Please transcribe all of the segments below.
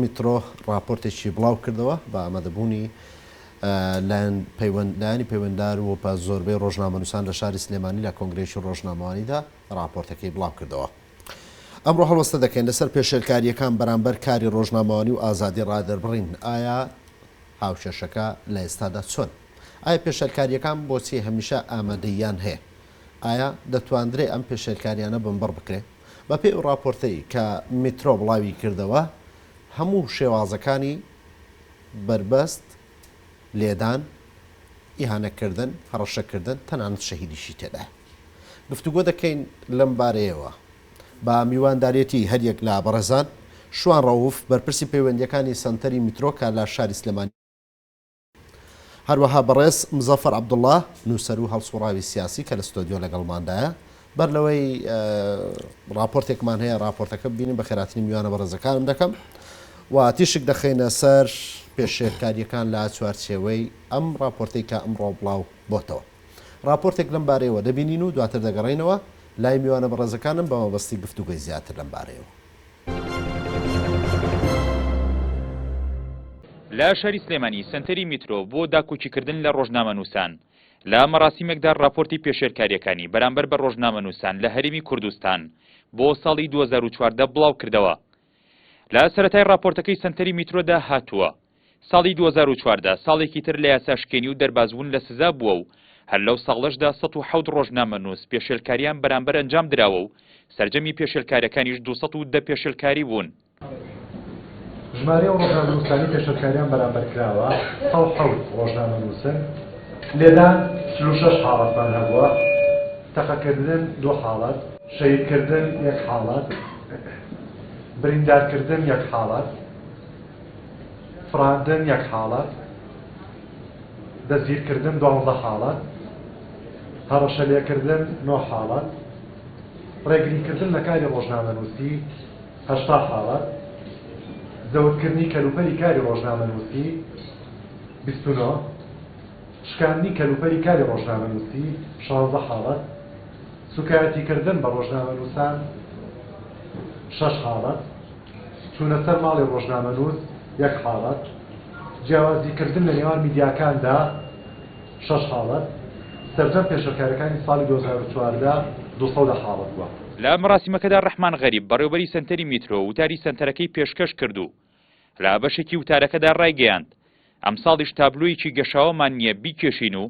میترۆ ڕاپۆرتێکی بڵاوکردەوە، بە ئامادەبوونی لایەنی پەیوەندار و بە زۆربەی ڕۆژنامەنووسان لە شاری سلێمانی لە کۆنگرەیەکی ڕۆژنامەوانیدا ڕاپۆرتەکەی بڵاوکردەوە. ئەمڕۆ هەڵوەستە دەکەین لەسەر پێشێلکارییەکان بەرامبەر کاری ڕۆژنامەوانی و ئازادی ڕادەربڕین، ئایا هاوکێشەکە لە ئێستادا چۆنە؟ ئایا پێشێلکارییەکان بۆچی هەمیشە ئامادەییان هەیە؟ ئایا دەتواندرێ ئەم پێشێلکارییانە بنبڕ بکرێ؟ بەپێی ئەو ڕاپۆرتەی کە میترۆ بڵاوی کردەوە، هەموو شێوازەکانی بەربەست، لێدان، ئیهانەکردن، هەڕەشەکردن، تەنانەت شەهیدیشی تێدایە. گفتوگۆ دەکەین لەم بارەیەوە بە میوانداریەتی هەریەک لە بەڕێزان، شوان ڕەوف، بەرپرسی پەیوەندییەکانی سەنتەری میترۆ کە لە شاری سلێمانی، هەروەها بەڕێز مزەفەر عەبدوڵا، نووسەر و هەڵسووڕاوی سیاسی کە لە ستۆدیۆ لەگەڵماندایە، بەر لەوەی ڕاپۆرتێکمان هەیە ڕاپۆرتەکە ببینین، بەخێراتنی میوانە بەڕێزەکانم دەکەم و تیشک دەخەینە سەر پێشێلکارییەکان لە چوارچێوەی ئەم ڕاپۆرتەی کە ئەمڕۆ بڵاو بۆتەوە. ڕاپۆرتێک لەم بارەیەوە دەبینین و دواتر دەگەڕێینەوە لای میوانە بەڕێزەکانم بە مەبەستی گفتوگۆی زیاتر لەم بارەیەوە. لە شاری سلێمانی سەنتەری میترۆ بۆ داکۆکیکردن لە ڕۆژنامەنووسان لە مەراسیمێکدا ڕاپۆرتی پێشێلکاریەکانی بەرامبەر بە ڕۆژنامەنووسان لە هەرێمی کوردستان بۆ ساڵی 2014 بڵاوکردەوە لە سەتای ڕاپۆرتەکەی سەنتەری میترۆدا هاتووە ساڵی دوو هەزار و چواردە ساڵێکی تر لە یاساشکێنی و دەربازبوون لە سزا بووە و هەر لەو ساڵەشدا سەد و حەوت ڕۆژنامەنووس پێشێلکارییان بەرامبەر ئەنجام دراوە و سەرجەمی پێشێلکارییەکانیش دوو سەد و دە پێشێلکاری بوون. ژمارەی ئەو ڕۆژنامەنووسانەی پێشێلکارییان بەرامبەر کراوە سەد و حەوت ڕۆژنامەنووسن، لێدان چل و شەش حاڵەتمان هەبووە، تەقەکردن دوو حاڵەت، شەهیدکردن یەک حاڵەت، بریندارکردن یەک حاڵەت. فڕاندن یەک حاڵەت دەستگیرکردن دوازدە حاڵەت هەڕەشەلێکردن نۆ حاڵەت ڕێگریکردن لە کاری ڕۆژنامەنووسی هەشتا حاڵەت زەوتکردنی کەلوپەلی کاری ڕۆژنامەنووسی بیست و نۆ شکاندنی کەلوپەلی کاری ڕۆژنامەنووسی شانزە حاڵەت سووکایەتیکردن بە ڕۆژنامەنووسان شەش حاڵەت چوونە سەر ماڵی ڕۆژنامەنووس یەک حاڵەت، جیاوازیکردن لە نێوان میدیاکاندا شەش حاڵەت، سەرجەم پێشێلکارییەکانی ساڵی دوو هەزار و چواردە دوو سەد حاڵەت بووە. لە مەراسیمەکەدا ڕەحمان غەریب، بەڕێوەبەری سەنتەری میترۆ وتاری سەنتەرەکەی پێشکەش کرد و لە بەشێکی وتارەکەدا ڕایگەیاند، ئەمساڵیش تابلۆیەکی گەشاوەمان نییە بیکێشین و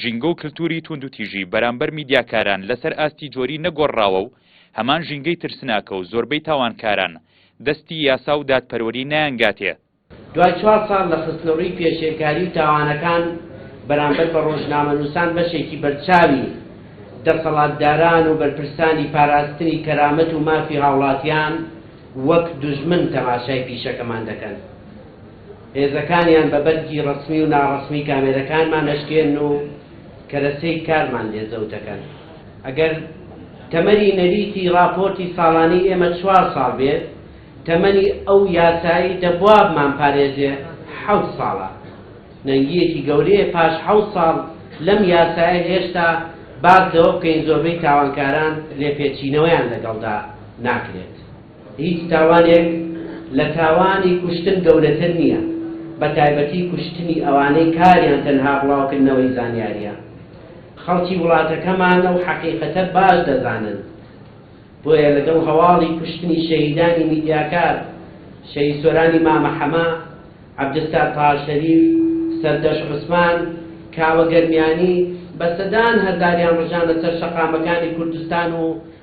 ژینگە و کلتووری تووندوتیژی بەرامبەر میدیاکاران لەسەر ئاستی جۆری نەگۆڕراوە و هەمان ژینگەی ترسناکە و زۆربەی تاوانکاران دەستی یاسا و دادپەروەری نایانگاتێ. دوای چوار ساڵ لە خستنەڕووی پێشێلکاری و تاوانەکان بەرامبەر بە ڕۆژنامەنووسان بەشێکی بەرچاوی دەسەڵاتداران و بەرپرسانی پاراستنی کەرامەت و مافی هاوڵاتیان وەک دوژمن تەماشای پیشەکەمان دەکەن. هێزەکانیان بە بەرگی ڕەسمی و ناڕەسمی کامێرەکانمان ئەشکێنن و کەرەسەی کارمان لێ زەوت ئەکەن. ئەگەر تەمەنی نەریتی ڕاپۆرتی ساڵانەی ئێمە چوار ساڵ بێت، تەمەنی ئەو یاسایی دەبوا بمانپارێزێ حەوت ساڵە. نەنگییەکی گەورەیە پاش حەوت ساڵ لەم یاسایە هێشتا باس لەوە بکەین زۆربەی تاوانکاران لێپێچینەوەیان لەگەڵدا ناکرێت. هیچ تاوانێک لە تاوانی کوشتن گەورەتر نییە، بە تایبەتی کوشتنی ئەوانەی کاریان تەنها بڵاوکردنەوەی زانیارییە. خەڵکی وڵاتەکەمان ئەو حەقیقەتە باش دەزانن، بۆیە لەگەڵ هەواڵی کوشتنی شەهیدانی میدیاکار، شەهید سۆرانی مامە حەمە، عەبدولستار تاها شەریف، سەردەشت عوسمان، کاوە گەرمیانی، بە سەدان هەزاریان ڕژانە سەر شەقامەکانی کوردستان و،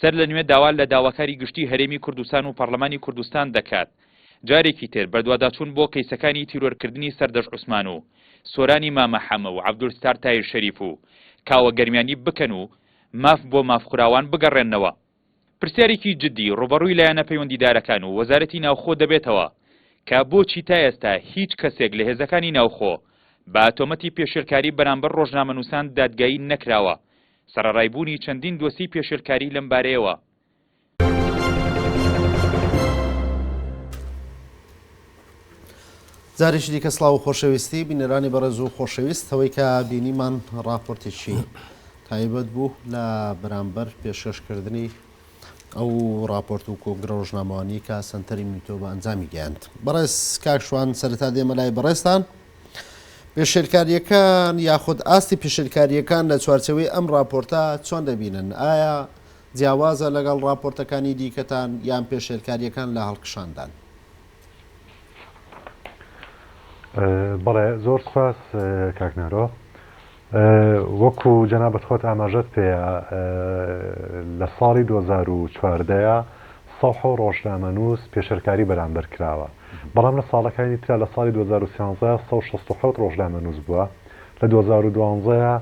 سەر لە نوێ داوا لە داواکاری گشتی هەرێمی کوردستان و پەڕلەمانی کوردستان دەکات جارێکی تر بەدواداچوون بۆ کەیسەکانی تیرۆرکردنی سەردەشت عوسمان و سۆرانی مامە حەمە و عەبدولستار تایر شەریف و کاوە گەرمیانی بکەن و ماف بۆ مافخوراوان بگەڕێننەوە. پرسیارێکی جدی ڕووبەڕووی لایەنە پەیوەندیدارەکان و وەزارەتی ناوخۆ دەبێتەوە کە بۆچی تا ئێستا هیچ کەسێک لە هێزەکانی ناوخۆ بە تۆمەتی پێشێلکاری بەرامبەر ڕۆژنامەنووسان دادگایی نەکراوە سەرەڕای بوونی چەندین دۆسیەی پێشێلکاریی لەم بارەیەوە، جارێکی دیکە سڵاو و خۆشەویستی بینەرانی بەڕێز و خۆشەویست ئەوەی کە بینیمان ڕاپۆرتێکی تایبەت بوو لە بەرامبەر پێشکەشکردنی ئەو ڕاپۆرت و کۆنگرە ڕۆژنامەوانی کە سنتەری میتۆ بە ئەنجامی گەیاند بەڕێز کاکشوان سەرتا دێمە لای بەڕێستان پێشێلکارییەکان یاخود ئاستی پێشێلکارییەکان لە چوارچێوەی ئەم ڕاپۆرتە چۆن دەبینن؟ ئایا جیاوازە لەگەڵ ڕاپۆرتەکانی دیکەتان یان پێشێلکارییەکان لە هەڵکشاندان؟ بەڵێ زۆر سوپاس کاک نەرۆ. وەکو جەنابت خۆت ئاماژەت پێیە لە ساڵی دوو هەزار و چواردە ەیە سەوح و ڕۆژنامەنووس پێشێلکاری بەرامبەر کراوە بەڵام لە ساڵەکانی ترا لە ساڵی دوو هەزار و سیانزە سەد و شەست و حەوت ڕۆژنامەنووس بووە لە دوو هەزار و دوازدە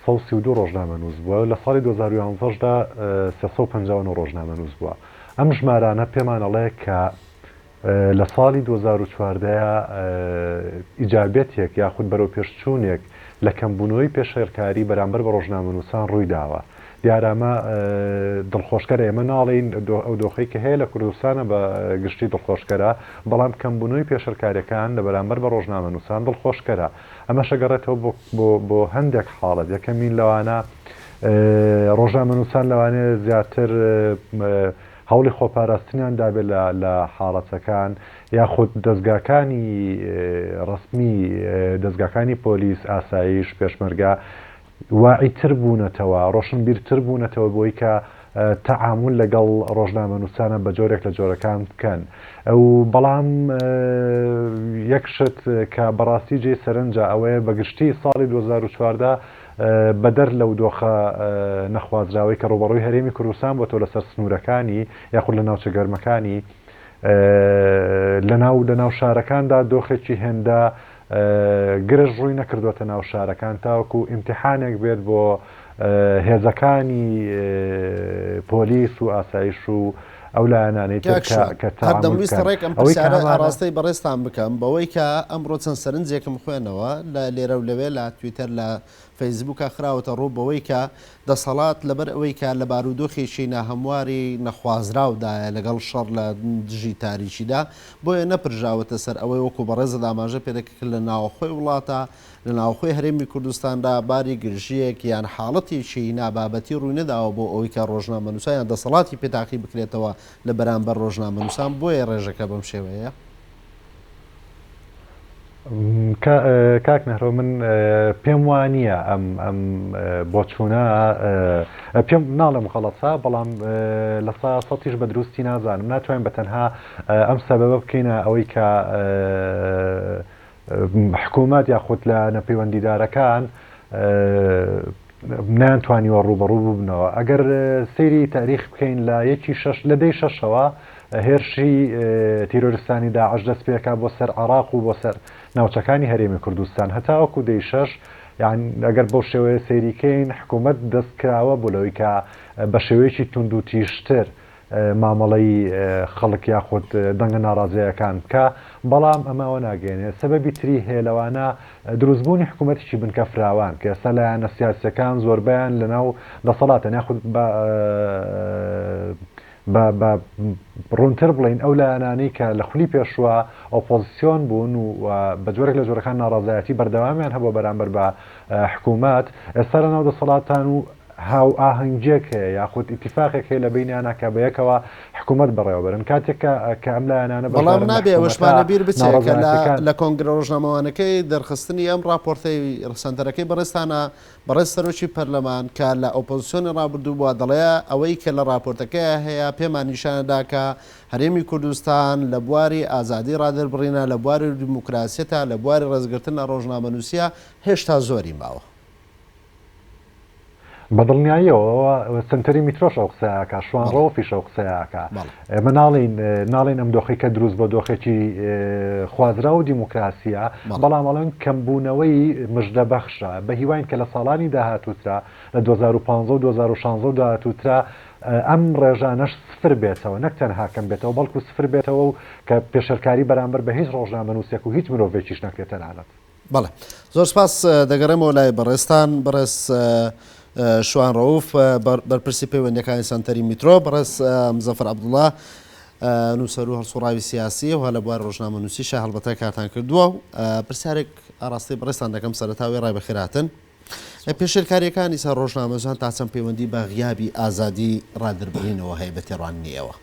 سەد و سی و دوو ڕۆژنامەنووس بووە لە ساڵی دوو هەزار و یازدە دا سێ سەد و پەنجا و نۆ ڕۆژنامەنووس بووە ئەم ژمارانە پێمان ئەڵێ کە لە ساڵی دوو هەزار و چواردە ئیجابیەتێک یاخود بەرەوپێشچوونێک لە کەمبوونەوەی پێشێلکاری بەرامبەر بە ڕۆژنامەنووسان ڕوویداوە. دیارە ئەمە دڵخۆشکەرە، ئێمە ناڵێین ئەو دۆخەی کە هەیە لە کوردستانە بە گشتی دڵخۆشکەرە، بەڵام کەمبوونەوەی پێشێلکارییەکان لە بەرامبەر بە ڕۆژنامەنووسان دڵخۆشکەرە. ئەمەش ئەگەڕێتەوە بۆ هەندێک حاڵەت، یەکەمین لەوانە ڕۆژنامەنووسان لەوانەیە زیاتر هەوڵی خۆپاراستنیان دابێت لە حاڵەتەکان یاخود دەزگاکانی ڕەسمی دەزگاکانی پۆلیس، ئاسایش، پێشمەرگە واعی تر بوونەتەوە، ڕۆشنبیر تر بوونەتەوە بۆی کە تەعامول لەگەڵ ڕۆژنامەنووسانە بە جۆرێک لە جۆرەکان بکەن و بەڵام یەک شت کە بەڕاستی جێی سەرنجە ئەوەیە بە گشتی ساڵی دوو هەزار و چواردە بەدەر لەو دۆخە نەخوازراوەی کە ڕووبەڕووی هەرێمی کوردستان بۆتەوە لەسەر سنوورەکانی یاخود لە ناوچە گەرمەکانی لەناو لەناو شارەکاندا دۆخێکی هێندە گرژ ڕووی نەکردوەتە ناو شارەکان تاوەکو ئیمتیحانێک بێت بۆ هێزەکانی پۆلیس و ئاسایش و ئەو لایەنانەی تر کاک ژیار، کە هەر تەعامول دەمویست بکەن. ڕێک ئەم ئەوەی کە پرسیارە هەمانە. ئاڕاستەی بەڕێزتان بکەم، بەوەی کە ئەمڕۆ چەند سەرنجێکم خوێنەوە لە لێرە و لەوێ لە تویتەر لە فەیسبووکا خراوەتە ڕوو بەوەی کە دەسەڵات لەبەر ئەوەی کە لە بارودۆخێکی ناهەمواری نەخوازراو دایە لەگەڵ شەڕ لە دژی تاریکیدا بۆیە نەپرژاوەتە سەر ئەوەی وەکوو بەڕێزت ئاماژە پێ دەکرد کە لە ناوەخۆی وڵاتا لە ناوخۆی هەرێمی کوردستاندا باری گرژییەک یان حاڵەتێکی نابابەتی ڕووی نەداوە بۆ ئەوەی کە ڕۆژنامەنووسان یان دەسەڵاتی پێ تاقی بکرێتەوە لە بەرامبەر ڕۆژنامەنووسان بۆیە ڕێژەکە بەم شێوەیە. کاک نهرۆ من پێم وا نییە ئەم ئەم بۆچوونە پێم ناڵێم غەڵەتە بەڵام لە سا سەتیش بە دروستی نازانم ناتوانین بە تەنها ئەم سەبەبە بکەینە ئەوەی کە حکومەت یاخود لایەنە پەیوەندیدارەکان نەیانتوانیوە ڕووبەڕوو ببنەوە ئەگەر سەیری تاریخ بکەین لە یەکی شەش لە دەی شەشەوە هێرشی تیرۆرستانی داعش دەست پێکا بۆ سەر عراق و بۆ سەر ناوچەکانی هەرێمی کوردستان هەتاوەکو دەی شەش یان ئەگەر بەو شێوەیە سەیریکەین حکوومەت دەست کراوە بۆ لەوەی کە بە شێوەیەکی توند و تیشتر مامەڵەی خەڵک یاخود دەنگە ناڕازەیەکان بکا بەڵام ئەمە ئەوە ناگەیەنێت سەبەبی تری هەیە لەوانە دروست بوونی حکومەتێکی بنکە فراوان کە ئێستا لایەنە سیاسیەکان زۆربەیان لەناو دەسەڵاتن یاخود بە ڕوونتر بڵێین ئەو لایەنانەی کە لە خولی پێشوە ئۆپۆزسیۆن بوون و بە جۆرێک لە جۆرەکان ناڕازایەتی بەردەوامیان هەبوو بەرامبەر بە حکومەت ئێستا لەناو دەسەڵاتان و هاوئاهەنگیەک هەیە یاخود ئیتیفاقێک هەیە لە بەینیانا کە بە یەکەوە حکوومەت بەڕێوە بەرن کاتێک کە کە ئەم لایەنانە بەشدارن لە حکوومەتا ناڕەزایەتیەکان. لە کۆنگرە ڕۆژنامەوانەکەی دەرخستنی ئەم ڕاپۆرتەی سەنتەرەکەی بەڕێزتانا، بەڕێز سەرۆکی پەرلەمان کە لە ئۆپۆزسیۆنی ڕابردوو بووە دەڵێ ئەوەی کە لە ڕاپۆرتەکەیا هەیە پێمان نیشان ئەدا کە هەرێمی کوردستان لە بواری ئازادی ڕادەربڕینە، لە بواری دیموکراسیەتا، لە بواری ڕێزگرتن لە ڕۆژنامەنووسیە هێشتا زۆری ماوە. بەدڵنیاییەوە ئەوە سەنتەری میترۆش ئەو قسەیەکە شوان ڕەوە فیش ئەو قسەیەکە ئێمە ناڵین ناڵین ئەم دۆخی کە دروست بە دۆخێکی خوازرا و دیموکراسیە بەڵام ئەڵەن کەمبوونەوەی مژدە بەخشە بە هیواین کە لە ساڵانی داهاتوترا لە 2015 و 2016 داهاتوترا ئەم ڕێژانەش سفر بێتەوە نەک تەنها کەم بێتەوە بەڵکو سفر بێتەوە و کە پێشەرکاری بەرامبەر بە هیچ ڕۆژنامەنووسێک و هیچ مرۆڤێکیش نەکرێت تەنانەت بەڵێ زۆر سپاس دەگەڕێمەوە لای بەڕێستان بەڕێز شوان ڕەوف بەرپرسی پەیوەندەکانی سنتەری میترۆ بەڕێز مزەفر عبدوڵە نووسەر و هەڵسوڕاوی سیاسی و هەلە بوار ڕۆژنامە نووسی شە هەڵبەتە کاتان کردووە و پرسیارێک ئاراستەی بڕێستان دەکەم سەرتاوی ڕای بەخێراتن پێشێلکاریەکانی سەر ڕۆژنامەزان تاچەند پەیوەندی بە غیابی ئازادی ڕادربڕینەوە هەیە بە تێڕاننیەوە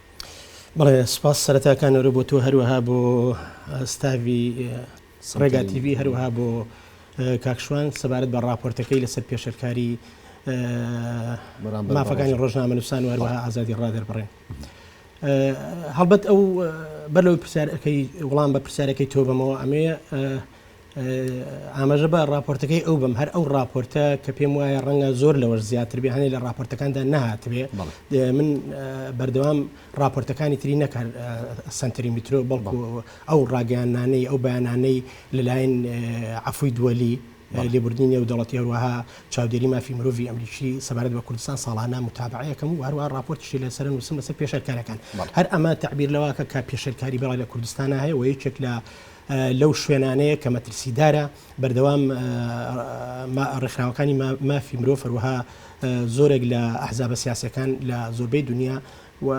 بڵێ سپاس سەرەتاکانەوە بۆ تۆ هەروەها بۆ ستاوی ڕێگا تیڤی هەروەها بۆ کاک شوان سەبارەت بە ڕاپۆرتەکەی لەسەر پێشێلکاری مافەکانی ڕۆژنامەنووسان و هەروەها ئازادی ڕادەربڕێن هەڵبەت ئەو بەرەوەی پرسیارەکەی وڵام بە پرسیارەکەی تۆ بەمەوە ئەمێ ئاماژە بە راپۆرتەکەی ئەو بم هەر ئەو راپۆرتە کە پێم وایە ڕەنگە زۆر لەوەش زیاتر بێ هەنێ لە راپۆرتەکاندا نهاتبێ من بەردەوام ڕاپۆرتەکانی تری نەک هەر سەنتەری میترۆ بەڵکو ئەو ڕاگەیاننانەی ئەو بەیانانەی لەلایەن عەفوی دوەلی لێبوردنی نێودەڵەتی هەروەها چاودێری مافی مرۆڤی ئەمریکی سەبارەت بە کوردستان ساڵانە متابعەیەکەم و هەروە ڕاپۆرتیشی لەسەر نووسم لەسەر پێشەرکارەکان هەر ئەمە تعبیر لەواکە کە پێشەرکاری بەڵی لە کوردستانە هەیە و یەکێک لە لەو شوێنانەیە کە مەترسیدارە بەردەوام ڕێکخراوەکانی مافی مرۆ فەروەها زۆرێک لە ئەحزابە سیاسەکان لە زۆربەی دنیا و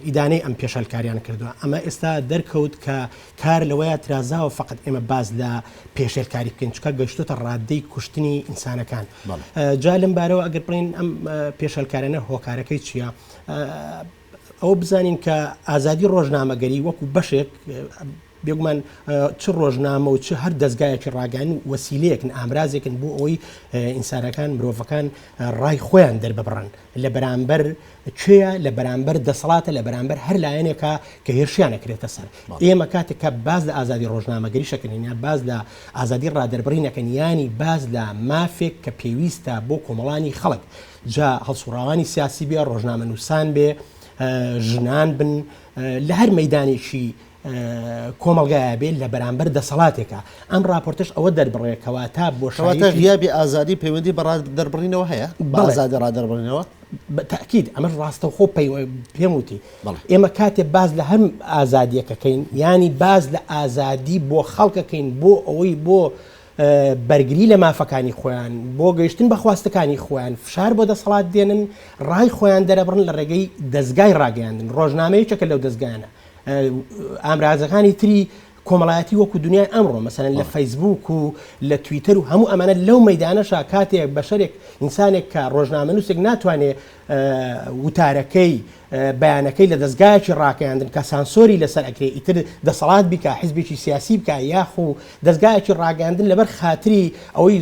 ئیدانەی ئەم پێشێلکاریان کردوە ئەمە ئێستا دەرکەوت کە کار لەوەیە ترازاوە فقط ئێمە باز لە پێشێلکاری بکەین چکە گەشتوتە ڕاددەی کوشتنی ئینسانەکان جا لەم بارەوە ئەگەر بڵین ئەم پێشێلکارانە هۆکارەکەی چییە؟ ئەوە بزانین کە ئازادی ڕۆژنامەگەری وەکو بەشێک بێگومان چ ڕۆژنامە و چ هەر دەستگایەکی ڕاگەن و وەسیلەیەکن ئامرازێکن بۆ ئەوەی ئینسانەکان مرۆڤەکان ڕای خۆیان دەرببڕن لە بەرامبەر کوێە لە بەرامبەر دەسەڵاتە لە بەرامبەر هەر لایەنێکە کە هێرشیانە کرێتە سەر ئێمە کاتێک کە باز لە ئازادی ڕۆژنامەگەری شەکەنین یا باز لە ئازادی ڕادربڕینەکەن ینی باز لە مافێک کە پێویستە بۆ کۆمەڵانی خەڵک جا هەڵسوڕاوانی سیاسی بێ ڕۆژنامە نووسان بێ ژنان بن لە هەر مەدانێکی کۆمەڵگایە بێت لە بەرامبەر دەسەڵاتێکە ئەم راپۆرتش ئەوە دەربڕێ کەواتە بۆ شواتە غیابی ئازادی پەیوەندی بە دەربڕینەوە هەیە بەزادە رادەربڕینەوە بەتاکیید ئەمەش راستەوخۆ پێم وتی ئێمە کاتێ باز لە هەم ئازادیەکەکەین ینی باز لە ئازادی بۆ خەڵکەکەین بۆ ئەوەی بۆ بەرگری لە مافەکانی خۆیان بۆ گەیشتن بە خواستەکانی خۆیان فشار بۆ دەسەڵات دێنن ڕای خۆیان دەرەبڕن لە ڕێگەی دەستگای ڕاگەیاندن ڕۆژنامەیەکە لەو دەستگانە ئامرازەکانی تری کۆمەڵایەتی وەکو دنیای ئەمڕۆ مەسەن لە فەیسبوک و لە تویتەر و هەموو ئەمانە لەو مەدانەشا کاتێک بەشێک ئینسانێک کە ڕۆژنامەنووسێک ناتوانێت وتارەکەی بەیانەکەی لە دەستگایکی ڕاکەیاندن کە سانسۆری لەسەر ئەکرێ ئیتر دەسەڵات بیکە حزبێکی سیاسی بکە یاخو دەستگایکی ڕاگەاندن لەبەر خااتری ئەوەی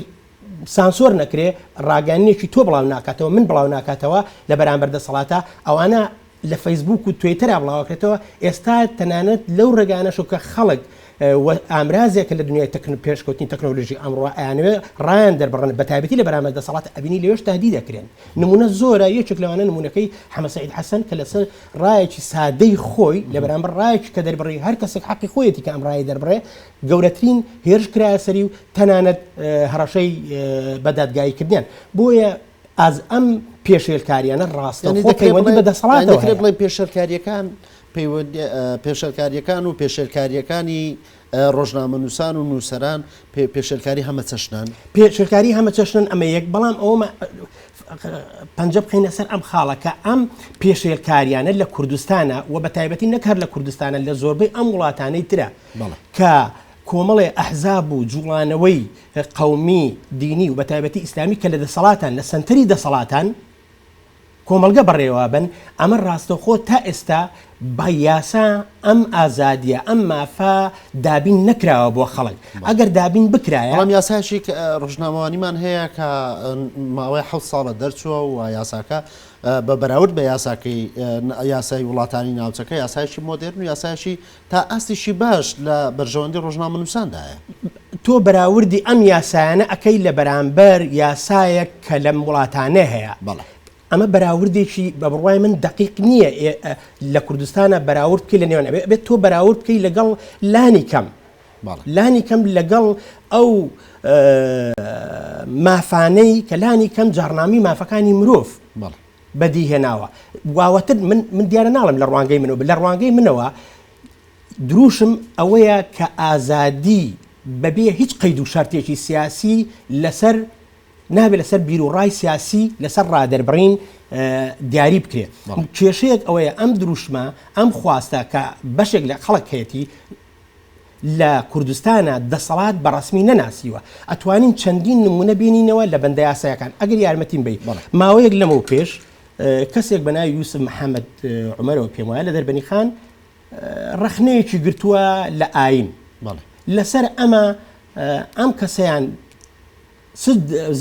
سانسۆر نەکرێ ڕاگەانێکی تۆ بڵاو ناکاتەوە من بڵاو ناکاتەوە لە بەرامبەر دەسەڵاتە ئەوانە لە فەیسبووک و توێیتەرا بڵاوکرێتەوە، ئێستا تەنانەت لەو ڕێگانەشو کە خەڵک و ئامرازێکە لە دنیای تەکن پێشکەوتنی تەکنۆلۆژی ئەمڕۆ ئەیانەوێ ڕایان دەربڕن بەتایبەتی لە بەرامبەر دەسەڵات ئەبینی لەوێش تەهدید ئەکرێن نمونە زۆرە یەکێک لەوانە نمونەکەی حەمە سەعید حەسەن کە لەسەر ڕایەکی سادەی خۆی لە بەرامبەر ڕایەکی کە دەربڕی هەر کەسێک حەقی خۆیەتی کە ئەم ڕایە دەربڕێ گەورەترین هێرش کرایە سەری و تەنانەت هەڕەشەی بە دادگایی کردیان بۆیە ئاز ئەم پێشێلکاریانە ڕاستەخۆ پەیوەندی بە دەسەڵاتەوە هەیە. بڵێ پێشەلکاریەکان پێشەلکاریەکان و پێشێلکاریەکانی ڕۆژنامە نووسان و نووسەران پێشێلکاری هەمە چەشنان پێشێلکاری هەمە چەشنن ئەمە یەک بەڵام ئەومە پەنج بخینە سەر ئەم خاڵەکە ئەم پێشێلکاریانە لە کوردستانە و بە تایبەتی نەکار لە کوردستانە لە زۆربەی ئەم وڵاتانەی ترە کە کۆمەڵێ ئەحزاب و جوڵانەوەی قەومی، دینی و بەتایبەتی ئیسلامی کە لە دەسەڵاتان، لە سەنتەری دەسەڵاتان کۆمەڵگە بەڕێوەبەن، ئەمە ڕاستەوخۆ تا ئێستا بە یاسا ئەم ئازادییە، ئەم مافە دابین نەکراوە بۆ خەڵک، ئەگەر دابین بکرایە. بەڵام یاسایەکی ڕۆژنامەوانیمان هەیە کە ماوەی حەوت ساڵە دەرچووە و یاساکە بە بەراورد بە یاساکەی یاسای وڵاتانی ناوچەکە یاسایەکی مۆدێرن و یاسایەکی تا ئاستێکی باش لە بەرژەوەندی ڕۆژنامەنووساندایە. تۆ بەراوردی ئەم یاسایانە ئەکەی لە بەرامبەر یاسایەک کە لەم وڵاتانێ هەیە. بەڵێ. ئەمە بەراوردێکی بە بڕوای من دەقیق نییە ئێ لە کوردستانا بەراورد بکەی لە نێوان ئەبێ ئەبێ تۆ بەراورد بکەی لەگەڵ لانی کەم بەڵێ. لانی کەم لەگەڵ ئەو مافانەی کە لانی کەم جاڕنامەی مافەکانی مرۆڤ بەڵێ. بەدی هێناوە واوەتن من من دیارە ناڵم لە ڕوانگەی منەوە بە لە ڕوانگەی منەوە دروشم ئەوەیە کە ئازادی بەبێ هیچ قەید و شارتێکی سیاسی لەسەر نابێت لەسەر بیر و ڕای سیاسی لەسەر ڕادەربڕین دیاری بکرێت کێشەیەک ئەوەیە ئەم دروشمە ئەم خواستە کە بەشێک لە خەڵک هەیەی لە کوردستانا دەسەڵات بە ڕەسمی نەناسیوە ئەتوانین چەندین نمونە بینینەوە لە بەندە یاسایەکان ئەگەر یارمەتیم بی ماوەیەک لەمەو پێش کەسێک بە ناوی یوسف محەممەد عمەرەوە پێم وایە لە دەربەنی خان ڕخنەیەکی گرتووە لە ئاین لەسەر ئەمە ئەم کەسەیان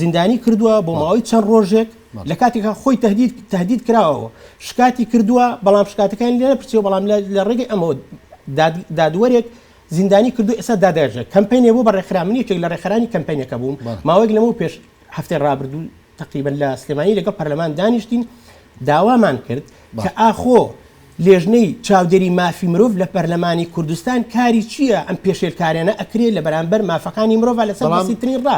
زیندانی کردووە بۆ ماوەی چەند ڕۆژێک لە کاتێکا خۆی تهدید تهدید کراوەوە شکاتی کردووە بەڵام شکاتەکانی لێ نەپرسیەوە بەڵام لە ڕێگەی ئەمەوە دادوەرێک زیندانی کردو ئێستا دادێژە کەمپینێ بۆ بە ڕێکخرا من یەکێک لە ڕێکخرانی کەمپینەکە بووم ماوەیەک لەمە پێش هەفتەی ڕابردوو تقریبن لە سلێمانی لەگەڵ پەرلەمان دانیشتین داوامان کرد کە ئاخۆ لیژنەی چاودێری مافی مرۆڤ لە پەرلەمانی کوردستان کاری چیە ئەم پێشێلکاریانە ئەکرێ لە بەرامبەر مافەکانی مرۆڤ لەسەر بەسیترین ڕا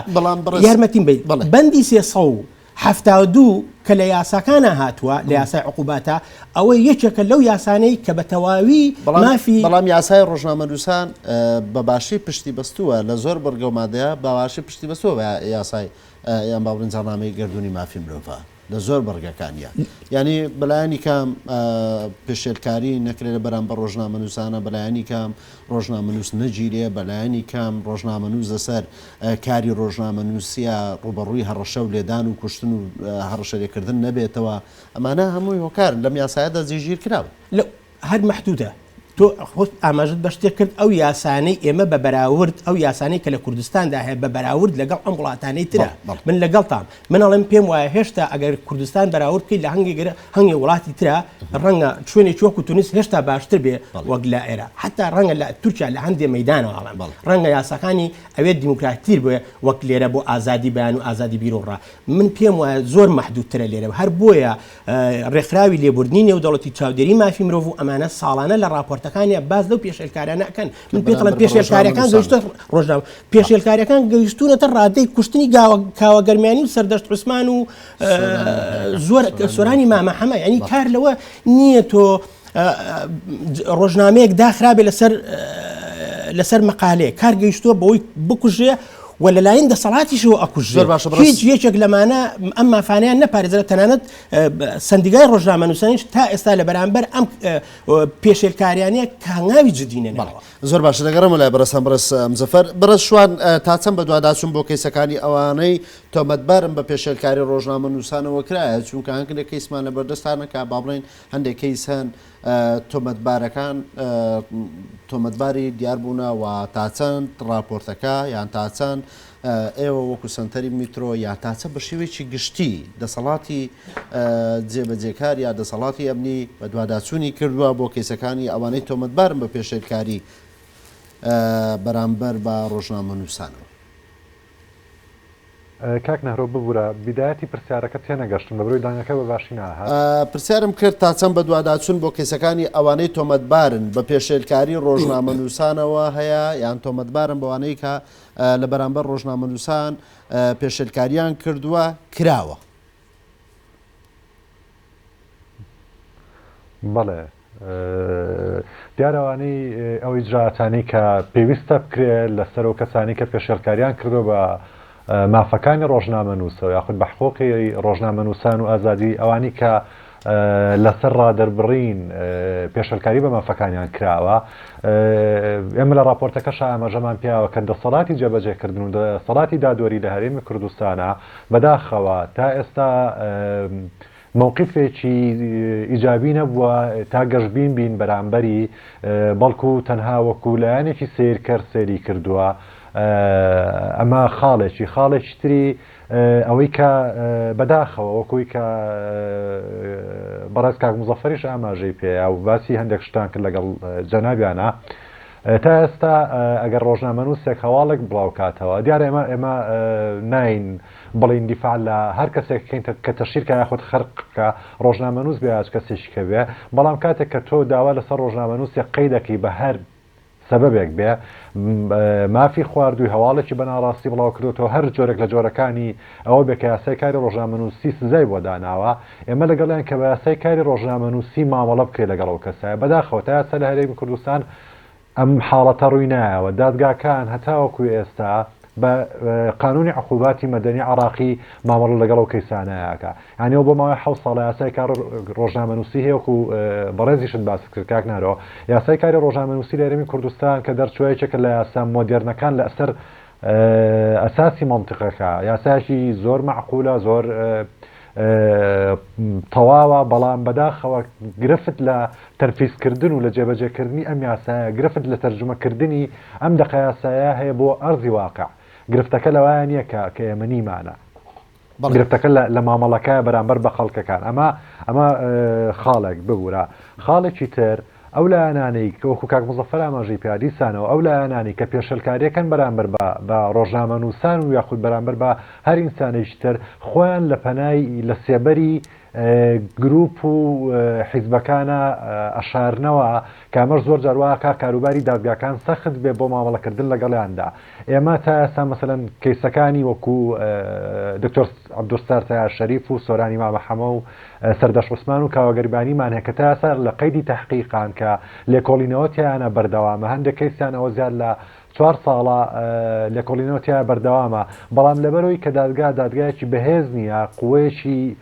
یارمەتیم بەیت بەندی سێ سەد و حەفتا و دوو کە لە یاساکانە هاتووە لە یاسای عقوباتە ئەوەی یەکێکە لەو یاسانەی کە بە تەواوی مافی بەڵام یاسای ڕۆژنامەنووسان بە باشی پشتی بەستووە لە زۆر بڕگەومادەیە باواشی پشتی بەسووە بە یاسای یان باڵنجانامەی گردردونی مافی مرۆڤ. لە زۆر بڕگەکانیا یانی بەلایەنی کام پێشێلکاری نەکرێت لە بەرامبەر ڕۆژنامەنووسانە بەلایەنی کام ڕۆژنامەنووس نەگیرێ بەلایەنی کام ڕۆژنامەنووس لەسەر کاری ڕۆژنامەنووسە ڕوبەڕووی هەڕەشە و لێدان و کوشتن و هەڕەشەلێکردن نەبێتەوە ئەمانە هەمووی هۆکارن لەم یاسایەدا جێگیر کراون. هەر مەحدودە. تۆ خۆت ئاماژەت بە شتێک کرد، ئەو یاسانەی ئێمە بە بەراورد، ئەو یاسانەی کە لە کوردستاندا هەیە بە بەراورد لەگەڵ ئەم وڵاتانەی ترە. من لەگەڵتام. من ئەڵێم پێم وایە هێشتا ئەگەر کوردستان بەراورد بکەیت لە هەنگێک گەرە هەنگێک وڵاتی ترا ڕەنگە شوێنێکی وەکوو تونس هێشتا باشتر بێ وەک لە ئێرە. حەتتا ڕەنگە لە تورکیا لە هەندێ مەیدانەوە ئەڵێم. ڕەنگە یاساکانی ئەوێ دیموکراتیکتر بێ وەک لێرە بۆ ئازادی بیان و ئازادی بیرو ڕا. من پێم وایە زۆر مەحدودترە لێرە. هەر بۆیە. ڕێکخراوی لێبوردنی نێودەوڵەتی چاودێری مافی مرۆڤ و ئەمانە ساڵانە لە ڕاپۆرتەکانیان باز لەو پێشێلکارانە ئەکەن من پێ دەڵێن پێشێلکاریەکان گەشتە ڕۆژناو پێشێلکاریەکان گەیشتونەتە ڕادەی کوشتنی گاوە کاوە گەرمیانی و سەردەشت عوسمان و زۆر سۆرانی مامە حەمە ینی کار لەوە نییە تۆ ڕۆژنامەیەک داخرابێ لەسەر لەسەر مەقالەیە کار گەیشتووە بەوەی بکوژێ و لەلایەن دەسەڵاتیشەوە ئەکوژ زۆر باشە بڕی هیچ یەکێک لەمانە ئەم مافانیان نەپارێزرا تەنانەت سندیگای ڕۆژنامە نووسانیش تا ئێستا لە بەرامبەر ئەم پێشێلکاریانە کە هەنگاوی جددینە بەڵ زۆر باشە دەگەڕم لای بەرەسان بڕس مزەفەر بڕس شوان تا چەند بەدواداچون بۆ کەیسەکانی ئەوانەی تۆمەتبارم بە پێشێلکاری ڕۆژنامە نووسانەوە کرایە چونکە هەنگ لە کەیسمان لە بەردەستانەکە با بڵین هەندێک کەیس هەن تۆمەتبارەکان تۆمەتباری دیاربوونا و تاچەند ڕاپۆرتەکە یان تاچەند ئێوە وەکو سنتەری میترۆ یا تاچە بە شێوەیەکی گشتی دەسەڵاتی جێبەجێکار یا دەسەڵاتی ئەمنی بە دوواداچوونی کردووە بۆ کەیسەکانی ئەوانەی تۆمەتبارن بە پێشێلکاری بەرامبەر بە ڕۆژنامە نووسانەوە. کاک نهرۆ ببورە بیدایەتی پرسیارەکەت تێنەگەشتم لەبەرەوەی دەنگەکە بەباشی ناهات. پرسیارم کرد تا چەند بەدواداچون بۆ کەیسەکانی ئەوانەی تۆمەتبارن بە پێشێلکاری ڕۆژنامەنوسانەوە هەیە یان تۆمەتبارن بەوانەی کە لە بەرامبەر ڕۆژنامەنوسان پێشێلکاریان کردوە کراوە؟ بەڵێ دیارە ئەوانەی ئەو ئیجرائاتانەی کە پێویستە بکرێ لەسەر و کەسانی کە پێشێلکاریان کردو بە مافەکانی ڕۆژنامە نووسەوە یاخود بە حقۆقی ڕۆژنامە نووسان و ئازادی ئەوانی کە لەسەر ڕادەربڕین پێشلکاری بە مافەکانیان کراوە ئێمە لە راپۆرتەکەش ئاماژەمان پیاوە کە دەسەڵاتی جێبەجێکردن و دەسەڵاتی دادوەری لە هەرێمی کوردستانە بەداخەوە تا ئێستا مەوقیفێکی ئیجابی نەبووە تا گەشبین بین بەرامبەری بەڵکو تەنها وەکو لایەنێکی سەیرکەر سەیری کردووە ئەمە خاڵێکی خاڵێکی تری ئەوەی کە بەداخەوە وەکوی کە بەڕێز کاک مزەفەریش ئاماژەی پێیا و باسی هەندێک شتان کرد لەگەڵ جەنابیانە تا ئێستا ئەگەر ڕۆژنامەنووسێک هەواڵێک بڵاوکاتەوە، دیارە ئێمە ئێمە ناین بڵێین دیفاع لە هەر کەسێک بکەین کە تەشهیر کا یاخود خەرق کا، ڕۆژنامەنووس بێ یا هەچ کەسێکیکە بێ، بەڵام کاتێک کە تۆ داوا لەسەر ڕۆژنامەنووسێک قەی دەکەی بە هەر سەبەبێک بێ، مافی خواردووی، هەواڵێکی بە ناڕاستی بڵاوکردۆتەوە، هەر جۆرێک لە جۆرەکانی ئەوە بێ کە یاسای کاری ڕۆژنامەنووسی سزای بۆ داناوە، ئێمە لەگەڵیان کە بە یاسای کاری ڕۆژنامەنووسی مامەڵە بکرێت لەگەڵ ئەو کەسایە بەداخەوە تا ئێستا لە هەرێمی کوردستان ئەم حاڵەتە ڕووی نایەوە دادگاکان هەتاوەکو ئێستا بە قانونی عقوباتی مەدەنی عراقی مامەڵە لەگەڵ ئەو کەیسانەیەکە یانەوە بۆ ماوەی حە ساڵە یاسای کار ڕۆژنامەنووسی هەیەکو بەڕێزیشت باست کرد کاک نارۆ یاسای کاری ڕۆژنامەنووسی لە هەرێمی کوردستان کە دەرچوایەکێکە لە یاسا مۆدێرنەکان لە ئەسەر ئەساسی منطقەکە یاسایەکی زۆر معقولە زۆر تەواوە، بەڵام بەداخەوە گرفت لە تەنفیزکردن و لە جێبەجێکردنی ئەم یاسایە، گرفت لە تەرجومەکردنی ئەم دەقە یاسایە هەیە بۆ ئەرزی واقع. گرفتەکە لەوایە نییە کە کە ئێمە نیمانە. گرفتەکە لە مامەڵەکایە بەرامبەر بە خەڵکەکان. ئەمە ئەمە خاڵێک ببوورە. خاڵێکی تر، ئەو لایەنانەی، کە وەکو کاک موزەفەر ئاماژەی پێا، دیسانەوە ئەو لایەنانەی کە پێشێلکاریەکەن بەرامبەر بە بە ڕۆژنامەنووسان و یاخود بەرامبەر بە هەر ئینسانێکی تر خۆیان لە پەنای لە سێبەری گروپ و حیزبەکانا ئەشارنەوە کە ئەمەش زۆر جار وا ئەکا کاروباری دادگاکان سەخت بێ بۆ مامەڵەکردن لەگەڵیاندا ئێمە تا ئێستا مەسەلەن کەیسەکانی وەکوو دکتۆر عەبدولستار تەیار شەریف و سۆرانی مامە حەمە و سەردەشت عوسمان و کاوە گەریبانیمان هەیە کە تا ئێستا لە قەیدی تەحقیقان کە لێکۆڵینەوە تیایانە بەردەوامە هەندێک کەیسیان ئەوە زیاد لە چوار ساڵە لێکۆڵینەوە تیا بەردەوامە بەڵام لەبەرەوەی کە دادگا دادگایەکی بەهێز نییە قوەیەکی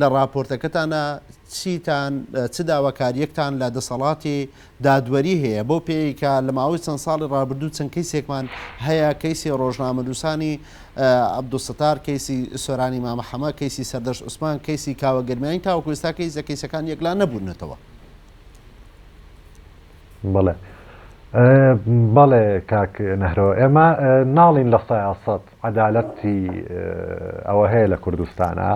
لە ڕاپۆرتەکەتانا چیتان چ داواکاریەکتان لە دەسەڵاتی دادوەری هەیە بەو پێی کە لە ماوەی چەند ساڵی ڕابردوو چەند کەیسێکمان هەیە کەیسی ڕۆژنامەنووسانی عبدوستار کەیسی سۆرانی مامەحەمە کەیسی سەردەشت عوسمان کەیسی کاوە گەرمیانی تاوەکو ئێستا کەیسە کەیسەکان یەکلا نەبوونەتەوە بڵێ بەڵێ کاک نەهرۆ ئێمە ناڵین لە سایاسەت عەدالەتی ئەوە هەیە لە کوردستانا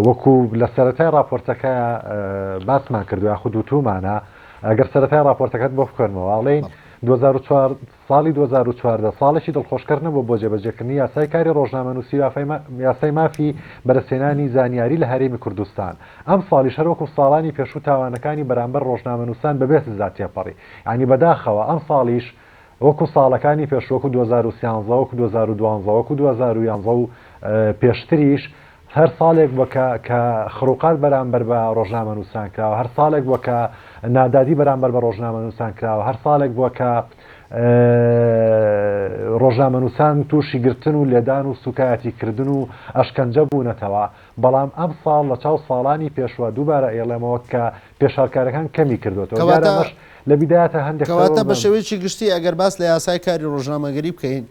وەکو لە سەرەتای ڕاپۆرتەکە باسمان کردو یاخود وتومانە ئەگەر سەرەتای ڕاپۆرتەکەت بۆ بخوێنمەوە ئەڵێین بەڵێ 2004 ساڵی 2014 ساڵێکی دڵخۆشکەر نەبووە بۆ جێبەجێکردنی یاسای کاری ڕۆژنامەنووسی و یافای ما یاسای مافی بەدەستهێنانی زانیاری لە هەرێمی کوردستان ئەم ساڵیش هەر وەکو ساڵانی پێشوو تاوانەکانی بەرامبەر ڕۆژنامەنووسان بەبێ سزا تێپەڕی یانی بەداخەوە ئەم ساڵیش وەکو ساڵەکانی پێش وەکو دوو هەزار و سیانزە وەکو دوو هەزار و دوانزە وەکو دوو هەزار و یانزە و پێشتریش هەر ساڵێک بوە کە کە خروقات بەرامبەر بە ڕۆژنامەنوسان کراوە هەر ساڵێک بوە کە نادادی بەرامبەر بە ڕۆژنامەنوسان کراوە هەر ساڵێک بوە کە ڕۆژنامەنوسان توشی گرتن و لێدان و سوکایەتی کردن و ئەشکەنجە بونەتەوە بەڵام ئەم ساڵ لە چاو ساڵانی پێشوە دووبارە ئەیڵێمەوە کە پێشهەڵکارەکان کەمی کردۆتەوە دیارە کەواتە ئەمەش لە بیدایەتە هەندێک قسە کەواتە بە بەڵام شێوەیەکی گشتی ئەگەر باس لە یاسای کاری ڕۆژنامەگەری بکەین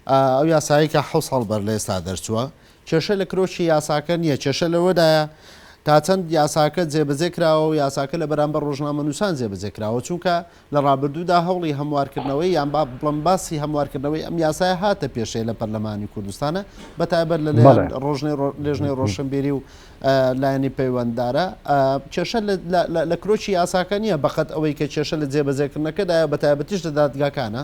ئا ئەو یاسایەی کە حەوت ساڵ بەر لە ئێستا دەرچووە کێشە لە کرۆکی یاساکە نییە کێشە لەوەدایە تا چەند یاساکە جێبەجێ کراوە و یاساکە لە بەرامبەر ڕۆژنامەنووسان جێبەجێ کراوە چونکە لە ڕابردوودا هەوڵی هەموارکردنەوەی یان با بڵێم باسی هەموارکردنەوەی ئەم یاسایە هاتە پێشێ لە پەرلەمانی کوردستانا بە تایبەت لە لایەن بەڵێ ڕۆژنێ ڕۆ- لێژنەی ڕۆشنبیری و ئە، لایەنی پەیوەنددارە ئە، کێشە لە- لە- لە- لە کرۆکی یاساکە نییە بەقەد ئەوەی کە کێشە لە جێبەجێکردنەکەدایە بە تایبەتیش لە دادگاکانە.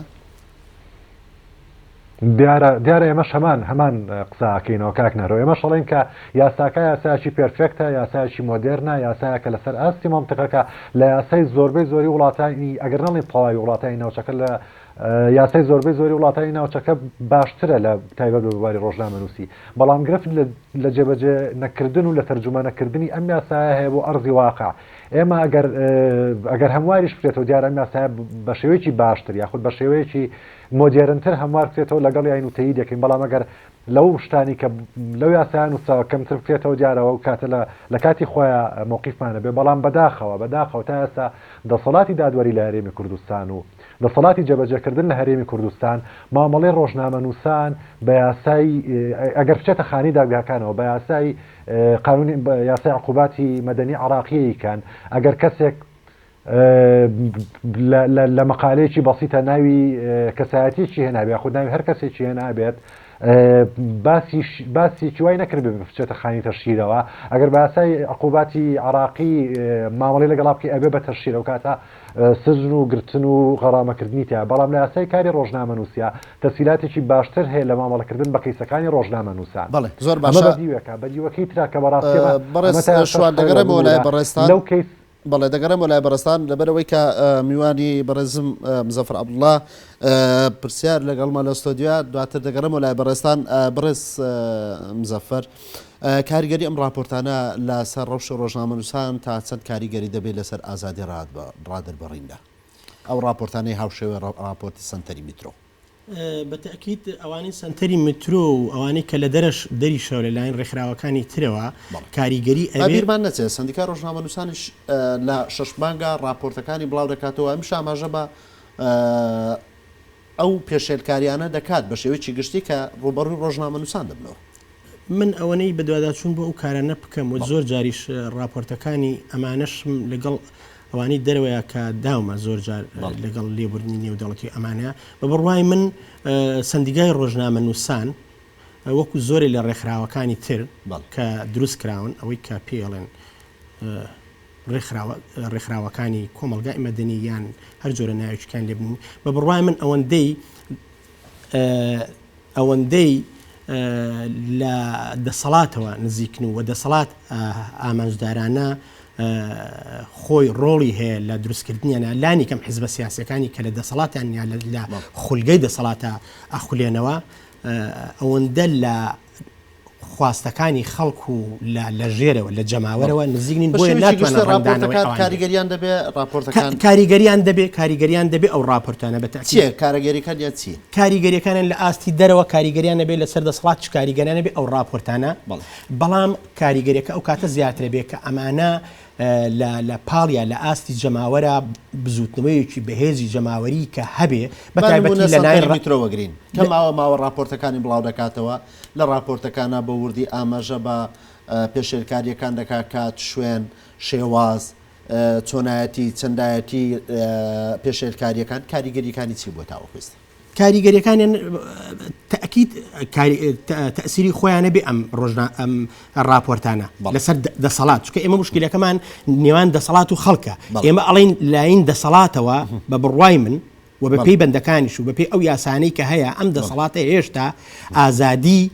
دیارە دیارە ئێمەش هەمان هەمان قساکەینەوە کاک نەرەوە ئێمەش ئەڵێن کە یاساکە یاسایکی پێرفێکتە یاسایکی مۆدێرنە یاسایەکە لەسەر ئاستی مەنتیقەکە لە یاسای زۆربەی زۆری وڵاتانی ئەگەر نەڵێن تەواوی وڵاتانی ناوچەکە لە یاسای زۆربەی زۆری وڵاتانی ناوچەکە باشترە لە تایبەت بە بواری ڕۆژنامەنووسی بەڵام گرفت لە جێبەجێ نەکردن و لە تەرجومە نەکردنی ئەم یاسایە هەیە بۆ ئەرزی واقع ئێمە ئەگەر ئەگەر هەمواریش بکرێتەوە دیارە ئەم یاسایە بە شێوەیەکی باشتر یاخود بە شێوەیەکی مۆدێرنتر هەموار بکرێتەوە لەگەڵیاین و تەییدی دەکەین بەڵام ئەگەر لەو شتانی کە لەو یاسایە نووسراوە کەمتر بکرێتەوە دیارە ئەو کاتە لە لەکاتی خۆیا مەوقیفمان ئەبێ بەڵام بەداخەوە بەداخەوە تا ئێستا دەسەڵاتی دادوەری لە هەرێمی کوردستان و دەسەڵاتی جێبەجێکردن لە هەرێمی کوردستان مامەڵەی ڕۆژنامەنووسان بە یاسای ئەگەر بچێتە خانی دادگاکانەوە بە یاسای قانونی یاسای عقوباتی مەدەنی عراقیی کەن ئەگەر کەسێک لە مەقالەیەکی بەسیتە ناوی کەسایەتیەکی هێنابێ یاخود ناوی هەر کەسێکی هێنابێت باسیکی وای نەکرد بچێتە خانی تەشیرەوە ئەگەر باسای عقوباتی عراقی مامەڵی لەگەڵا بکە ئەبێ بە تەشیرە و کاتە سزن و گرتن و غەڕامەکردنی تیا بەڵام لە یاسای کاری ڕۆژنامە نووسە تەسیلاتێکی باشتر هەیە لە مامەڵەکردن بە کەیسەکانی ڕۆژنامە نووسان بەڵێ زۆر باشە بەدیوەکە بەدیوەکەی ترا کە بەڕاستێمە بەڕێز شوان دەگەڕێمەوە لای بەڕێزتان لەو کەیس بەڵێ دەگەڕێمەوە لای بەڕێزتان لەبەر ئەوەی کە میوانی بەڕێزم مزەفر عبدڵە پرسیار لەگەڵمە لە ستۆدیۆ دواتر دەگەڕێمەوە لای بەڕێزتان بڕێز مزەفەر کاریگەری ئەم راپۆرتانە لەسەر ڕەوش ڕۆژنامەنووسان تا چەند کاریگەری دەبێت لەسەر ئازادی ڕادبڕیندا ئەو راپۆرتانەی هاوشێوێ راپۆرتی سنتەری میترۆ بە تەئکید ئەوانەی سەنتەری مترۆ و ئەوانەی کە لە دەرەش دەریشەوە لە لایەن رێکخراوەکانی ترەوە کاریگەری ئەبێت. با بیرمان نەچێت سەندیکای رۆژنامەنووسانیش لە شەش مانگا راپۆرتەکانی بڵاو دەکاتەوە، ئەمیش ئاماژە بە ئەو پێشێلکارییانە دەکات بە شێوەیەکی گشتی کە رووبەڕووی رۆژنامەنووسان دەبنەوە. من ئەوەنەی بەدواداچوون بۆ ئەو کارانە بکەم و زۆر جاریش راپۆرتەکانی ئەمانەشم لەگەڵ ئەوانەی دەرەوەیە کە داومە زۆر جار لەگەڵ لێبوردنی نێودەوڵەتی ئەمانە بە بڕوای من سندیگای ڕۆژنامە نووسان وەکو زۆرێ لە ڕێکخراوەکانی تر کە دروست کراون ئەوەی کە پێڵێن ڕێکخراوەکانی کۆمەلگای مەدەنی یان هەر جۆرە ناوچکان لێبنین بە بڕای من ئەوەندەی ئەوەندەی لە دەسەڵاتەوە نزیکن و دەسەڵات ئامانجدارانە خۆی ڕۆڵی هەیە لە دروستکردنیانە لانی کەم حزبە سیاسەکانی کە لە دەسەڵاتیان یا لە خولگەی دەسەڵاتە ئەخولێنەوە ئەوەندە لە خواستەکانی خەڵک و لە لە ژێرەوە لە جەماوەرەوە نزیک نین بۆیە ناتوانن ڕەنگدانەوەی ئەوان کاریگەریان دەبێ ڕاپۆرتەکان کاریگەریان دەبێ کاریگەریان دەبێ ئەو ڕاپۆرتانە بە تاکید چیە کاریگەریەکان یا چی کاریگەریەکانیان لە ئاستی دەرەوە کاریگەریان نەبێ لەسەر دەسەڵات چ کاریگەریان نەبێ ئەو ڕاپۆرتانە بەڵام کاریگەریەکە ئەو کاتە زیاترە بێ کە ئەمانە لە لە پاڵیا لە ئاستی جەماوەرە بزوتنەوەیەکی بەهێزی جەماوەری کە هەبێ بە تایبەتی لە نای ڕمیترۆوەگرین کە ماوە ماوە ڕاپۆرتەکانی بڵاو دەکاتەوە لە ڕاپۆرتەکانا بە وردی ئاماژە بە پێشێلکارییەکان دەکات، کات، شوێن، شێواز، چۆنایەتی، چەندایەتی پێشێلکارییەکان، کاریگەرییەکانی چی بووە تاوەکو ئێستا؟ کاریگەرییەکانیان تەئکید تەئسیری خۆیانە بێ ئەم ڕۆژنا ئەم ڕاپۆرتانە لەسەر دەسەڵات چکە ئێمە مشکلەکەمان نێوان دەسەڵات و خەڵکە ئێمە ئەڵین لاین دەسەڵاتەوە بە بڕوای من و بە پێی بەندەکانیش و بە پێی ئەو یاسانەی کە هەیە ئەم دەسەڵاتە هێشتا ئازادی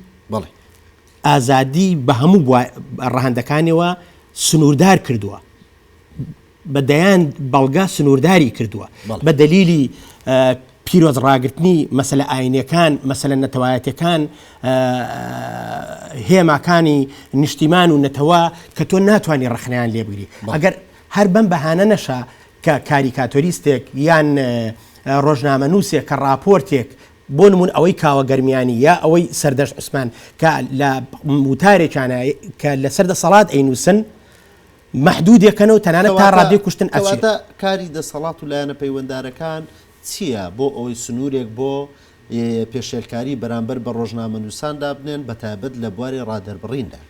ئازادی بە هەموو ڕەهندەکانیەوە سنووردار کردووە بە دەیان بەڵگا سنوورداری کردووە بە دەلیلی پیرۆز ڕاگررتنی مەسلە ئاینەکان مەسلە نەتەوایەتەکان هێماکانی نیشتیمان و نەتەوە کە تۆ ناتوانانی ڕخنیان لێبگری ئەگەر هەر بەم بەهانە نەشە کە کاریکاتۆریستێک یان ڕۆژنامەنووسێک کە ڕاپۆرتێک بۆ نموون ئەوەی کاوە گەرمیانی یا ئەوەی سەردەشت عوسمان کە لە وتارێکیانە کە لەسەر دەسەڵات ئەینووسن مەحدودێکەنەوە تەنانەت تا کەواتە ڕادێ کوشتن ئەچێت کەواتە کاری دەسەڵات و لایەنە پەیوەندارەکان چییە بۆ ئەوەی سنوورێک بۆ ی پێشێلکاری بەرامبەر بە ڕۆژنامەنووسان دابنێن بەتایبەت لە بواری ڕادەربڕیندا؟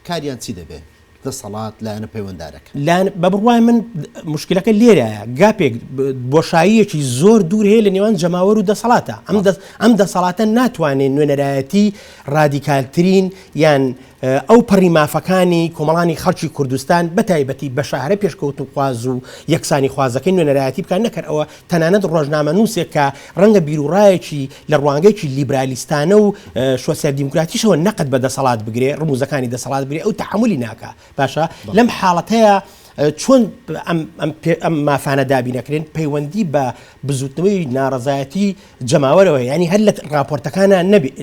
کاریان چی دەبێ دەسەڵات، لایەنە پەیوەندارەکان؟ لایەنە، بە بڕوای من مشکلەکە لێرایە، گاپێک، بۆشاییەکی زۆر دوور هەیە لە نێوان جەماوەر و دەسەڵاتە. ئەم دەسەڵاتە ناتوانێ نوێنەرایەتی ڕادیکالترین یان ئەوپەڕی مافەکانی کۆمەڵانی خەڵکی کوردستان بەتایبەتی بەشە هەرە پێشکەوتنخواز و یەکسانیخوازەکەی نوێنەرایەتی بکات، نەکەر ئەوە تەنانەت ڕۆژنامەنووسێک کە ڕەنگە بیروڕایەکی لە ڕوانگەیەکی لیبرالیستانە و شۆسیال دیموکراتیشەوە نەقد بە دەسەڵات بگرێ ڕموزەکانی دەسەڵات بگرێ ئەو تەحملی ناکە باشە لەم حاڵەتەیە چۆن ئەم مافانە دابینەکرێن پەیوەندی بە بزوتنەوەی ناڕزایەتی جەماوەرەوە ینی هەر لە راپۆرتەکانە نەبێت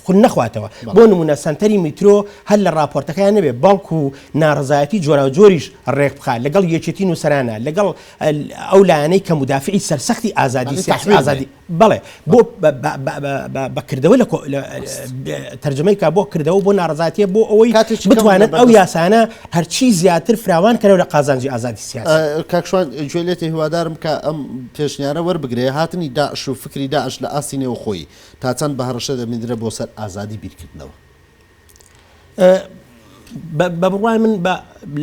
خون نەخواتەوە بۆ نمونە سنتەری میترۆ هەر لە راپۆرتەکان نەبێت بەڵکو ناڕزایەتی جۆرا جۆریش ڕێک بخە لەگەڵ یەکێتی نووسرانە لەگەڵ ئەو لایەنەی کە مودافیعی سەرسەختی ئازادی سیاسی ئازادی بەڵێ بۆ بە کردەوە لە تەرجەمەی کا بۆ کردەوە بۆ ناڕزاتیە بۆ ئەوەی بتوانێت ئەو یاسانە هەرچی زیاتر فراوان کەەوە لە قازانجی ئازادی سیاسی کاکشوان گوێ لێتی هیوادارم کە ئەم پێشنیارە وەربگرێ هاتنی داعش و فکری داعش لە ئاستی نێوخۆی تا چەند بە هەڕەشە دەبیندرە بۆ سەر ئازادی بیرکردنەوە بە بڕوای من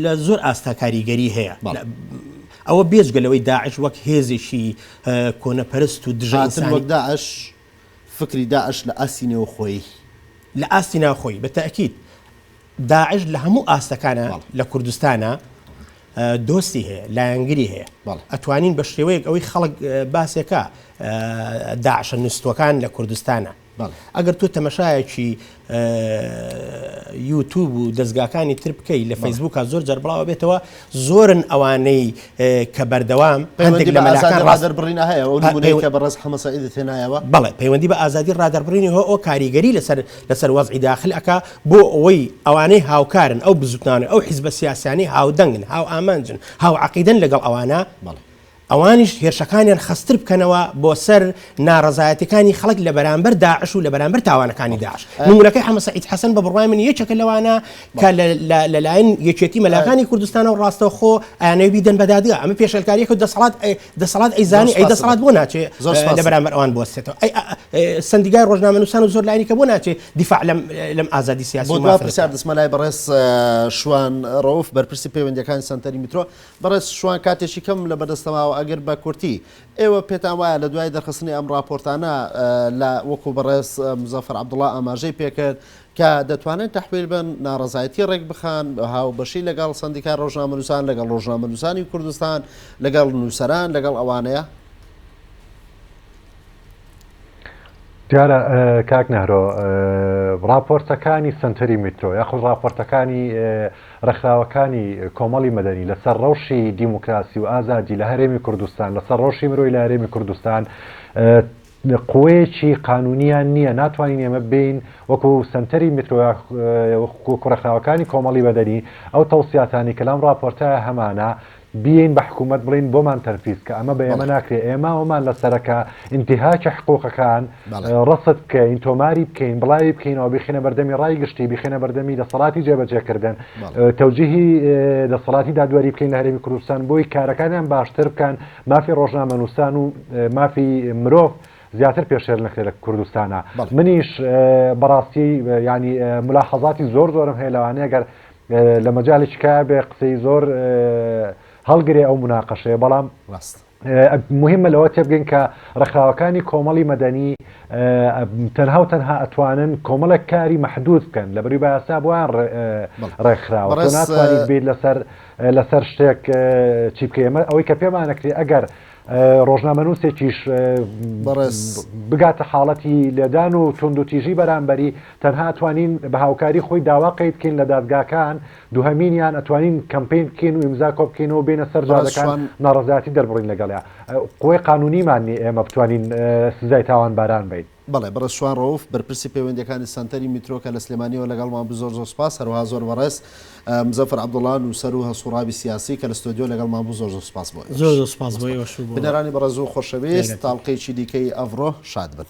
لە زۆر ئاستا کاریگەری هەیە ئەوە بێجگە لەوەی داعش وەک هێزێکی کۆنەپەرست و دژاتن وەک داعش فکری داعش لە ئاستی نێوخۆی لە ئاستی ناوخۆی بە تاکیید داعش لە هەموو ئاستەکانە لە کوردستانە دۆستی هەیە لایەنگری هەیە ئەتوانین بە شێوەیەک ئەوەی خەڵک باسێکە داعشە نووسەکان لە کوردستانە بەڵێ ئەگەر تۆ تەمەشایەکی یوتوب و دەزگاکانی تر بکەی لە فەیسبوکە زۆر جار بڵاوە بێتەوە زۆرن ئەوانەی کە بەردەوام پەیوەندی لە مەلازار ڕازەر بڕینە هەیە کە بەڕێز حەمەسەعیدی تێنایەوە بەڵێ پەیوەندی بە ئازادی ڕادەر بڕینی هۆ ئەو کاریگەری لەسەر لەسەر وەزعی داخل ئەک بۆ ئەوەی ئەوانەی هاوکارن ئەو بزوتنانە ئەو حیزبە سیاسانی هاودەنگن هاو ئامانجن هاو عقیدن لەگەڵ ئەوانە بەڵێ ئەوانیش هێرشەکانیان خەستتر بکەنەوە بۆ سەر ناڕەزایەتیەکانی خەڵک لە بەرامبەر داعش و لە بەرامبەر تاوانەکانی داعش نمونونەکەی حەمە سەعید حەسەن بە بڕوای من یەکێکە لەوانە کە لەلایەن یەکێتی مەلاکانی کوردستانە و ڕاستەوخۆ ئەیانەوەی بیدەن بە دادگا ئەمە پێشێلکاریەکە و دەسەڵات دەسەڵات ئەیزانی ئەی دەسەڵات بۆ ناچێ لە بەرامبەر ئەوان بۆستێتەوە ئەی سندیگای ڕۆژنامەنووسان و زۆر لایانی کە بۆ ناچێ دیفاع لەم لەم ئازادی سیاسی بۆ دوا پرسیار دەسمە لای بەڕێز شوان ڕەوف بەرپرسی پەیوەندەکانی سەنتەری میترۆ بەڕێز شوان کاتێکی کەمم لە بەردەستە ماوە ئەگەر بە کورتی ئێوە پێتان وایە لە دوای دەرخستنی ئەم ڕاپۆرتانە لە وەکوو بەڕێز موزەفەر عەبدوڵا ئاماژەی پێ کرد کە دەتوانن تەحویل بن ناڕەزایەتی ڕێک بخەن هاوبەشی لەگەڵ سەندیکای ڕۆژنامەنووسان لەگەڵ ڕۆژنامەنووسانی کوردستان لەگەڵ نووسەران لەگەڵ ئەوانەیە دیارە کاک نەهرۆ ڕاپۆرتەکانی سنتەری میترۆ یاخود ڕاپۆرتەکانی ڕێکخراوەکانی کۆمەڵی مەدەنی لەسەر ڕەوشی دیموکراسی و ئازادی لە هەرێمی کوردستان لەسەر ڕەوشی مرۆی لە هەرێمی کوردستان قوەیەکی قانونیان نییە ناتوانین ئێمە بین وەکو سنتەری میترۆیا کوڕەخراوەکانی کۆمەڵی بەدەنی ئەو تەوسیاتانی کەلام ڕاپۆرتە هەمانە بیین بە حکومەت بڵین بۆمان تەرفیز کە ئەمە بە ئێمە ناکرێ ئێمە وەمان لە سەرەکە ئینتیهاکی حقوقەکان ڕەسد بکەین تۆماری بکەین بڵاوی بکەینەوە بیخینە بەردەمی ڕای گشتی بیخێنە بەردەمی دەسەڵاتی جێبەجێکردن تەوجیهی دەسەڵاتی دادوەری بکەین لە هەرێمی کوردستان بۆی کارەکانیان باشتر بکەن مافی ڕۆژنامە نووسان و مافی مرۆڤ زیاتر پێشێل نەکرێ لە کوردستانە منیش بەڕاستی ینی ملاحەزاتی زۆر زۆرم هەیە لەوانەیە گەر لە مەجالی تکایە بێ قسەی زۆر هەڵگرێ ئەو مناقەشەیە بەڵام ڕاست مهمە لەوە تێبگەین کە ڕخراوەکانی کۆمەڵی مەدەنی تەنها و تەنها ئەتوانن کۆمەڵێک کاری محدود بکەن لە بەری باسا بۆیان ڕێکخراوە ناتوانیت بیت لەسەر لەسەر شتێک چی بکە ئەمە ئەوەی کە پێمانەکرێ ئەگەر ڕۆژنامەنووسێکیش بەڕێز. بگاتە حاڵەتی لێدان و توندوتیژی بەرامبەری، تەنها ئەتوانین بە هاوکاری خۆی داوا قەی بکەین لە دادگاکان، دووهەمینیان ئەتوانین کەمپەین بکەین و ئیمزا کۆبکەینەوە بێینە سەر بەڕێز جادەکان شوان. ناڕەزایەتی دەربڕین لەگەڵیا، قوەی قانونیمان نیە ئێمە بتوانین سزای تاوانباران بەین. بەڵێ بەڕێز شوان ڕەوف بەرپرسی پەیوەندیەکانی سەنتەری میترۆ کە لە سلێمانیەوە لەگەڵمان بوو زۆر زۆر سوپاس هەروەها زۆر بەڕێز مزەفەر عەبدوڵا نوسەر و هەڵسوڕاوی سیاسی کە لە ستۆدیۆ لەگەڵمان بوو زۆر زۆر سوپاس بۆ ئێوەش زۆر زۆر سوپاس بۆ ئێوەش و بۆ بینەرانی بەڕێز و خۆشەویست تاڵقەیەکی دیکەی ئەڤڕۆ شاد بن.